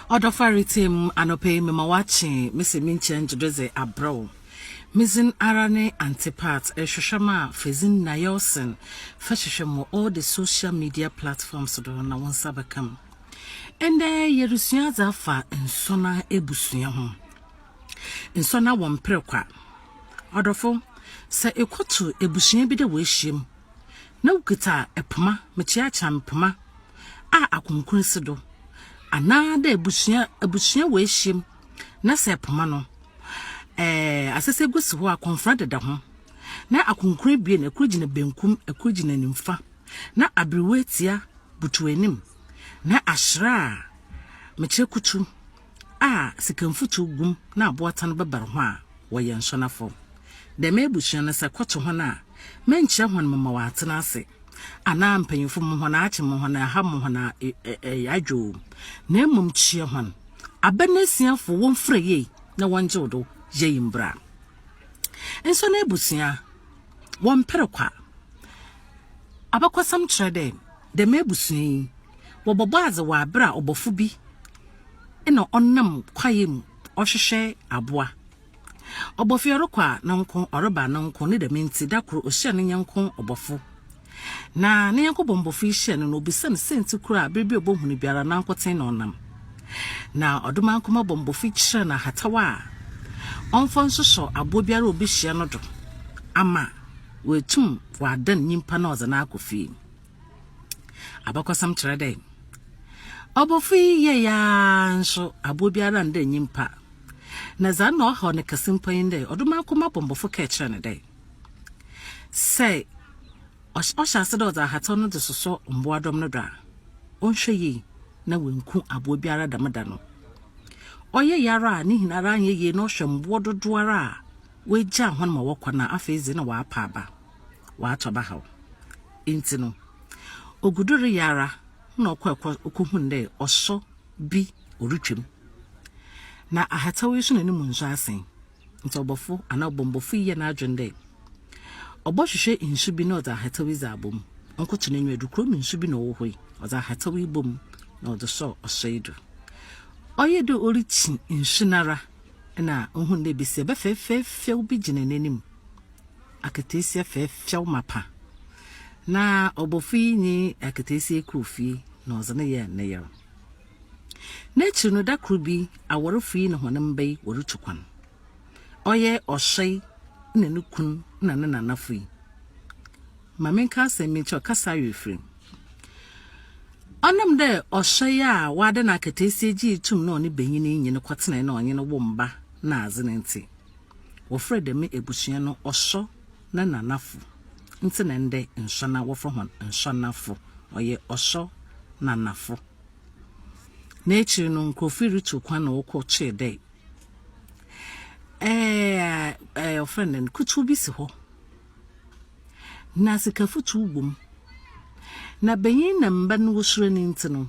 Ɔdɔfo retsie mu anɔpa yi mema wɔakye me se menkyia ngye do dze abrɛ wo. Me dzin ara ne Antipat, erehwehwɛ me a fa dzin Naelson fa hwehwɛ me wɔ all the social media platforms do na wo nsa bɛka mu. Ndɛ yerusua adze afa nsɔnna ebusua ho. Nsɔnna wɔ mper kwa. Ɔdɔfo, sɛ ekɔto ebusua bi dɛ woehyia mu na wokitsa poma, mekyea kyea me poma, a akronkron si do, anaadɛ ebusua ebusua woehyia mu na sɛ poma no, ɛɛ asɛsɛgu si hɔ a kɔnfora deda ho, na akronkron ebien, kor gyina bankum, kor gyina nyimfa, na aberewatsia butuw anim, na ahyira a mekyerɛ kutu. a sika mfutsew gu mu na aboatan bɛbar ho a, wɔyɛ nsɔnafo. Dɛm ebusua no, sɛ kɔto hɔn a, mennkyerɛ hɔn mema wɔaatsena ase, anaa mpanyimfo mma hɔn aakye, mma hɔn aaha, mma hɔn aayadwo o, na mbom kyia hɔn. Aber no esuafo wɔmfura yie na wɔngyew do yɛ yi mbra. Nsɔnabusua, wɔmmper kwa. Abakɔsɛm kyerɛ dɛ, Dɛm ebusua yi, wɔbɔbɔ adze wɔ aber a ɔbɔfo bi na ɔnam kwae mu ɔhwehwɛ aboa. Ɔbɔfo yi ɔrokɔ a no nko, ɔreba a no nko, ne dɛm ntsi da kor ohyia no nyɛnko ɔbɔfo. Na no nyɛnko bɔmbɔfo yi hyia no na obisa no siantsir kor a aber biara obohu no biara nankotsee na ɔnam. Na ɔdomankoma bɔmbɔfo yi kyerɛ no ahataw a ɔmfa nsoso abowa biara a obehyia no do ama oetum ɔadan nyimpa na ɔdze no akɔ fie. Abakɔsɛm kyerɛ dɛ, ɔbɔfo yi yɛe ara nso abowa biara annda nnyimpa, na dza nna ɔhaw no kɛse mpo nye dɛ, ɔdɔ mu akoma bɔmbɔfo kɛɛ kyerɛɛ no dɛ, sɛ ɔhyɛ ase dɛ ɔdze ahataw no dze sosɔ mbowadɔm no do a, ɔnhwɛ yie na oennku abowa biara dɛm da no. Ɔyɛe ara a, ne nyinara annyɛ yie na ɔhwɛ mbowa dodowara a oegyaa hɔn ma wɔkɔ no a, afei dze nna ɔapa aba. ɔatɔ bahaw. Ntsi no, ogu do reyɛ ara na ɔkɔr kɔ okohun dɛ ɔsɔ bi orutwa mu. Na ahataw yi so na no mu nsu asen. Ntsi ɔbɔfo anaa ɔbɔmbɔfo yi yɛɛ n'adwen dɛ ɔbɔhwehwɛ nsu bi na ɔdze ahataw yi dze abɔ mu. Ɔnnkoto n'enyiwa do, kurow mu nsu bi na ɔwɔ hɔ yi, ɔdze ahataw yi bɔɔ mu na ɔdze sɔɔ ɔsɔ yi do. Ɔyɛɛ dɛ orikyi nsu no ara na ohun dɛ basia bɛ fɛfɛɛfɛw bi gyina n'enyim. akataasia fɛɛfɛw mapã, na ɔbɔfo yi nye akataasia yi kɔr fie na ɔdze no yɛɛ ne yer. N'ekyir no, da kor bi, awarfo yi na hɔn mba yi worutu kwan. Ɔyɛ ɔsoɛr na no kun na no nanafo yi. Ma menka asɛm bi nkyerɛ wo, kasa awe efir. Ɔnam dɛ ɔsoɛr a ɔada no akataasia gyee tum na ɔnye banyin yi nye no kɔtsenae na ɔnye no woo mba na adze no ntsi, Wɔfrɛ dɛm ebusua no Ɔsɔ na Nanafo. Ntsi na ndɛ Nsɔnna wɔfrɛ hɔn Nsɔnnafo. Ɔyɛ Ɔsɔ Nanafo. N'ekyir no, nkorɔfo rutu kwan na wɔkɔ kyee dɛ ɛɛ wɔfrɛ no dɛn, kutuw bi si hɔ. Na sikafotuw wom. Na banyin na mba no wosuro no ntsi no,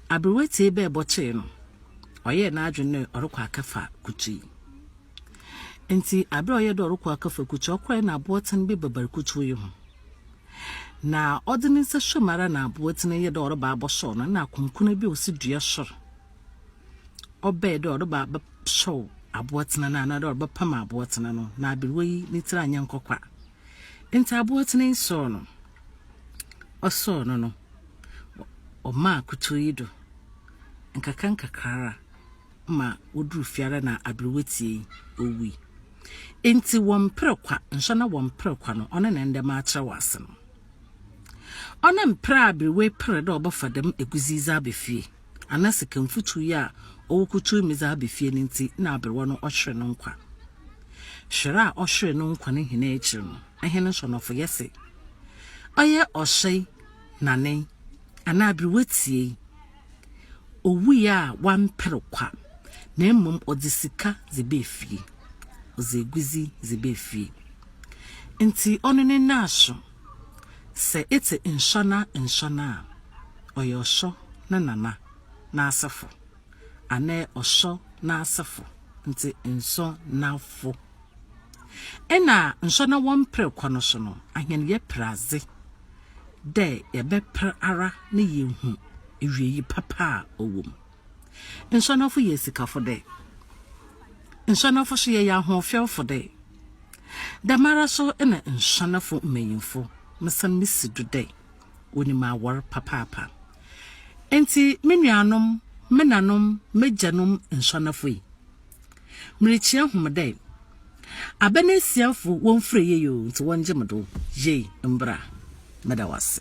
aber woetsie bɛ bɔtee no, ɔyɛɛ n'adwen dɛ ɔrokɔ akɛfa kutui. Ntsi aber a ɔyɛɛ dɛ ɔrokɔ akɛfa kutui, ɔkɔree na abowatsɛn bi babar kutui yi ho. Na ɔdze ne nsa suaam ara na abowatsɛn yi yɛɛ dɛ ɔreba abɔsɔw no, nna akonkona bi a osi dua sor. ɔbɛɛ dɛ ɔreba abɛsɔw Abowatsena no anaadɛ ɔrebɛpam Abowatsena no, na aberwa yi ne tsir annyɛ nkɔkwa. Ntsi Abowatsena yi sɔɔ no, ɔsɔɔ no no, ɔmaa kutuw yi do nkakrankakra ma odur fie ara na aberwa tsie yi, owui. Ntsi wɔmmper kwa, nso na wɔmmper kwa no, ɔno na ndɛ makyerɛ wo ase no. Ɔno mmper a aberwa yi per dɛ ɔbɛfa dɛm egudze yi dze aba fie. ana sika mfuturu yi a ɔwɔkutuu me dze aba fie no ntsi na aberewa no ɔhwere no nkwa? Hwer a ɔhwere no nkwa no hɛn ekyir no, hɛn nsɔnɔfo yɛse, ɔyɛ ɔhyɛe nanee anaa aberewa tsiei, owui a ɔammper kwa, na mbom ɔdze sika dze baa fie, ɔdze egudzi dze baa fie ntsi ɔno ne naaso. Sɛ etse nsɔnna nsɔnna a, ɔyɛ ɔsɔ ne nana n'asefo anaa ɔsɔ n'asefo ntsi nsɔnnafo. Nna nsɔnna wɔmmper kɔ no so no, ahɛn yɛper adze dɛ yɛbɛper ara na yeehu ewiei papa a ɔwɔ mu. Nsuanafo yɛ esikafo dɛ. Nsuanafo so yɛyɛ ahoɔfɛwfo dɛ. Dɛmara so na nsuanafo mbanyimfo, mesan misi do dɛ, wonyim awar papaapa. Ntsi me nuanom, menanom, m'egyanom nsuanafo yi, mirikyia hom dɛ, aban esiafo womfura yie o, ntsi wɔngye me do yie mbra. Meda w'ase.